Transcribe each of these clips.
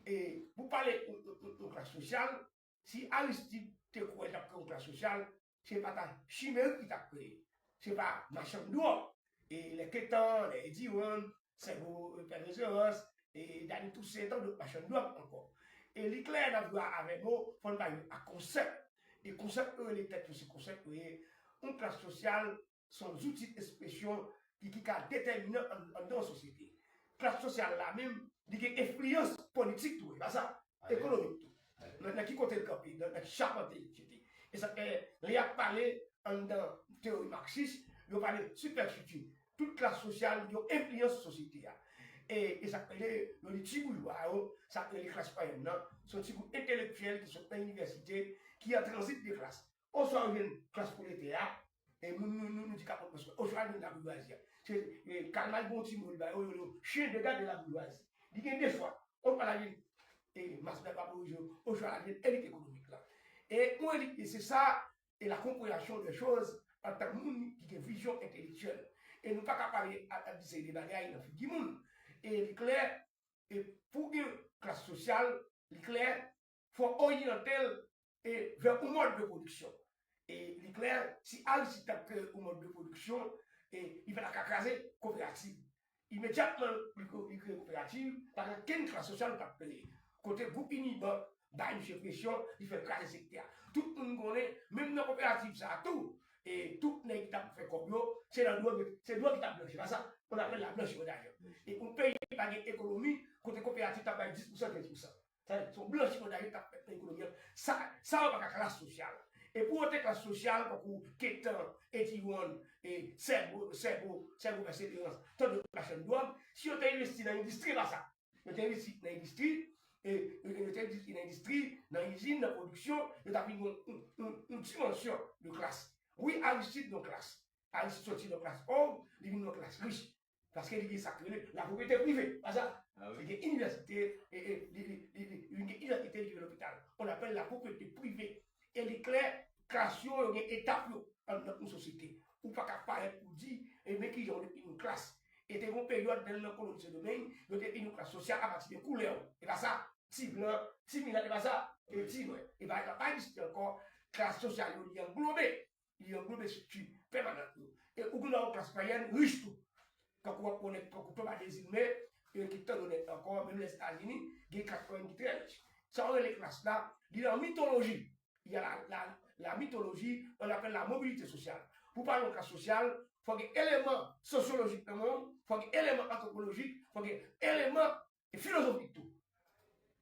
E pou pale yon klas sosyal, si Aristide te kwè tap kreye yon klas sosyal, se pa ta Chimerik li tap kreye, se pa machann dwòg, e lè Ketan, lè Edi Wan, sèvo Pè Reverans, e Dany Tousen e tandòt machann dwòg ankò. E li klè nan dwa avè mo, fò n bay non ak konsèp. E konsèp yo rele tèt yo se konsèp yo ye, yon klas sosyal Se yon zouti espresyon ki ki ka detèminan anndan yon sosyete. Klas sosyal la menm, li gen enfliyans politik tou, e pa sa? Ekonomik tou. Nan ki kote l kanpe, nan ki chapante yon sosyete. E sa k fè, lè y ap pale anndan teyori maksis, yo pale sipèstrikti. Tout klas sosyal yo enfliyans sou sosyete a. E sa k rele, yo di ti boujwa yo, sa k rele klas mwayèn nan, se yon ti gwoup entelektyèl ki sot nan inivèsite, ki an tranzit de klas. Oswa ou jwenn klas pwoletè a, e moun nou nou di kapòt mòs mwen, oswa ou jwenn laboujwazi a. Se e Karl Marx gen yon ti mo li ba yo, yo di yo chien de garde de la bourgeoisie. Li gen 2 chwa, oswa l'a vin e mas mwen pa bourjwa yo, oswa l'a vin elit ekonomik la. E yon elit li se sa, e la konpreyansyon dè choz antan moun ki gen vizyon entelektyèl. E nou pa ka pale ap ap di seri de bagay nan figi moun. E li klè, e pou gen klas sosyal, li klè, Fò oryante l e vè yon mòd de pwodiksyon. E li klè si Aristide t ap kreye yon mòd de pwodiksyon e li pa ta ka kraze koperativ. Imedyatman li kreye koperativ, pa gen okenn klas sosyal li pa t kreye. Kote gwoup Unibank bay misye presyon, li fè kraze sektè a. Tout moun konnen menm nan koperativ sa a tou e tout nèg ki t ap fè kòb yo se nan dwòg yo, se dwòg ki t ap blanchi pa sa? On appelle la blanchiment d'argent. E yon peyi ki pa gen ekonomi kote koperativ t ap bay 10 pousan, 15 pousan. Tèt son blanchi kòd la yo kap fèt nan ekonomi an. Sa sa yo pa ka klas sosyal. E pou yo te klas sosyal tankou Ketan, Ediwon, e Sèbo, Sèbo, Sèbo Pèseverans, tant dòt machann dwòg, si yo te envesti nan endistri pa sa. Yo te envesti nan endistri, e yo te envesti nan endistri, nan izin, nan pwodiksyon, yo ta vin yon yon dimansyon de klas. Wi Aristide yon klas. Aristide sòti nan klas pòv, li vin yon klas rich. Paske li gen sa k rele lapwopriyete prive. Aza, li gen inivèsite, li gen inivèsite, li gen lopital. On apèl lapwopriyete prive. E li klè, klas yo, yo gen etap yo anndan yon sosyete. Ou pa ka parèt pou di, e men ki jan ou defini yon klas. E te gen yon peryòd nan nan koloni Sendomeng, yo te defini yon klas sosyal apati de koulè ou. E pa sa? Ti blan, ti milat, e pa sa? E ti nwè. E pa ekzanp, pa egziste ankò, klas sosyal yo li anglobe. li yon gwoup estrikti pèmanant yo. E ou gen dwa wè klas mwayèn rich tou. Tankou wap wè nèg tankou Thomas Desilme, e ki tan onèt ankò, menm Lèzetazini, gen klas mwayèn ki trè rich. Sa yo rele klas la, li nan mitoloji. Il y a la, la mythologie, on appelle la mobilité sociale. Pou pale yon klas sosyal, fò gen eleman sosyolojik nan men w, fò gen eleman antwopolojik, fò gen eleman E filozofik tou.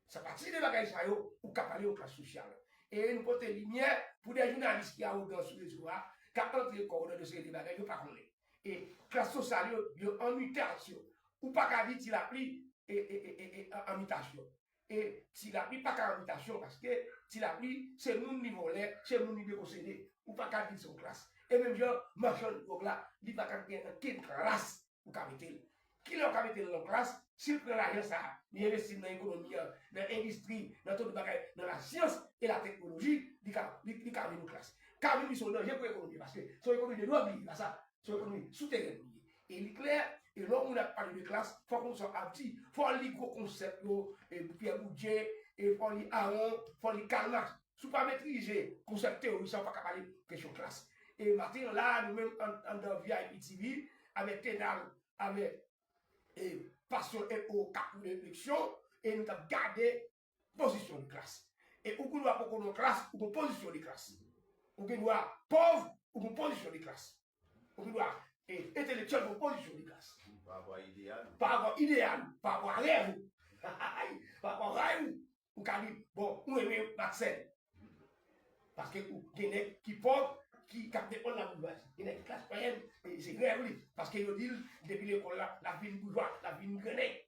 Sa pati de bagay sa yo ou ka pale yon klas sosyal. E nou pote limyè pou de jounalis ki awogan sou rezo a, k ap antre kò yo nan yon seri de bagay yo pa konnen. E klas sosyal yo, yo an mitasyon. Ou pa ka di Tilapli an mitasyon. E Tilapli pa ka an mitasyon paske Tilapli se moun li vòlè, se moun li dekosede. Ou pa ka di l se yon klas. E menm jan machann dwòg la, li pa ka gen ankenn klas ou ka mete l. Kilè ou ka mete l nan klas? Si l pran lajan sa a, li envesti l nan ekonomi an, nan endistri, nan tout bagay, nan lasyans e lateknoloji, li ka li ka vin klas. Ka vin li se yon danje pou ekonomi an paske se yon ekonomi de dwòg li ye, se pa sa? Se yon ekonomi souterèn li ye. E li klè ke lè yon moun ap pale de klas, fòk moun sa ap di, fò l li gwo konsèp yo, Pyè Boudye, fò l li Aron, fò l li Karl Marx. Si w pa metrize konsèp teyori sa ou pa ka pale kesyon klas. E maten an la a nou menm anndan vip TV avèk Tenal avèk e Pasyon e o kap koule refleksyon e nou tap gade pozisyon yon klas. E ou gendwa poko nan klas ou gen pozisyon de klas. Ou gendwa pòv ou gen pozisyon de klas. Ou gendwa e entelektyèl gen yon pozisyon de klas. Parapò a ideyal ou. Parapò a ideyal ou. Parapò a rèv ou. Parapò a ray ou. ou ka di bon ou renmen Marcel paske ou gen nèg ki pòv ki kap defann la boujwazi gen nèg ki klas mwayèn se rèv li paske yo di l depi lekòl la lap vin boujwa lap vin gran nèg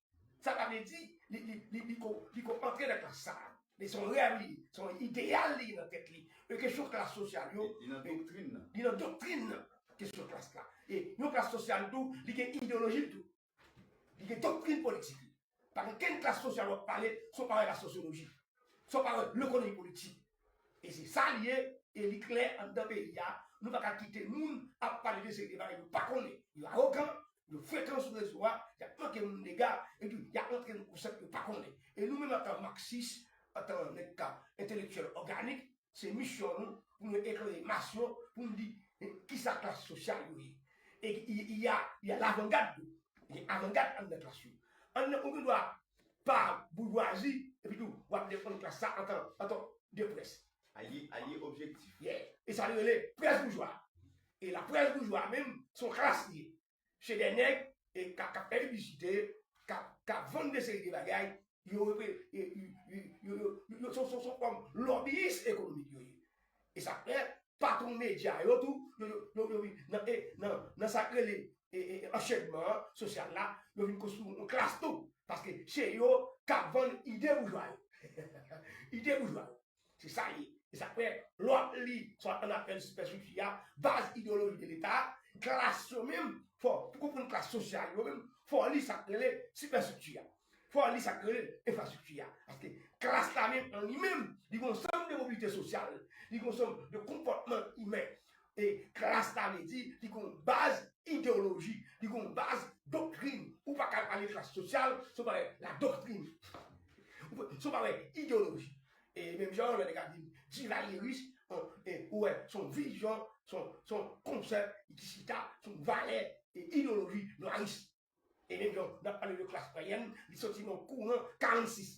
sa pa vle di li ko antre nan klas sa men son rèv li ye son ideyal li nan tèt li e kesyon klas sosyal yo li nan doktrin nan kesyon klas la e yon klas sosyal tou li gen ideyoloji l tou Li gen doktrin politik li. Pa gen kenn klas sosyal w ap pale san w pa wè lasosyoloji, san w pa wè lekonomi politik. E se sa li ye, e li klè anndan peyi a, nou pa ka kite moun ap pale de seri de bagay yo pa konnen. Yo awogan, yo frekan sou rezo a, y ap manke moun dega, epi y ap rantre nan konsèp yo pa konnen. E nou menm antan maksis, antan nèg k ap entelektyèl òganik, Se misyon nou pou nou eklere mas yo pou nou di ki sa klas sosyal yo ye. E il y a il y a l'avant-garde tou. Gen avangad anndan klas yo. Anndan ou gen dwa pa boujwazi epi tou w ap defann klas sa antan antan de près. Alye alye objektif. Yeah. E sa li rele près boujwa. E laprès boujwa menm se yon klas li ye. se de nèg kap fè piblisite, kap vann de seri de bagay, yo se yon fòm lòbiyis ekonomik yo ye. E sa fè patwon medya yo tou, yo vin nan sa k rele anchenman an, sosyal la, yo vin konstwi yon klas tou. Paske se yo kap vann ide boujwa yo. Ide boujwa yo. Se sa l ye. E sa k fè, lè w ap li, swa ann afè sipèstriktira a, baz ideyoloji de Leta a, klas yo menm, fò, pou konprann klas sosyal yo menm, fò w li sa k rele sipèstrikti a. Fò w li sa k rele enfrastrikti a. Paske klas la menm an li menm, li gen yon sèl de mobilite sosyal, li gen yon sèl de konpòtman imen. E klas ta vle di li gen yon baz ideyoloji, li gen yon baz doktrin. Ou pa ka pale klas sosyal san w pa wè ladoktrin, san w pa wè ideyoloji. E menm jan an lè nèg ap di divalyeris, ou wè se yon vizyon, se yon konsèp ki chita sou yon valè e ideyoloji nwaris. E menm jan n ap pale de klas payèn, li soti nan kouran 46.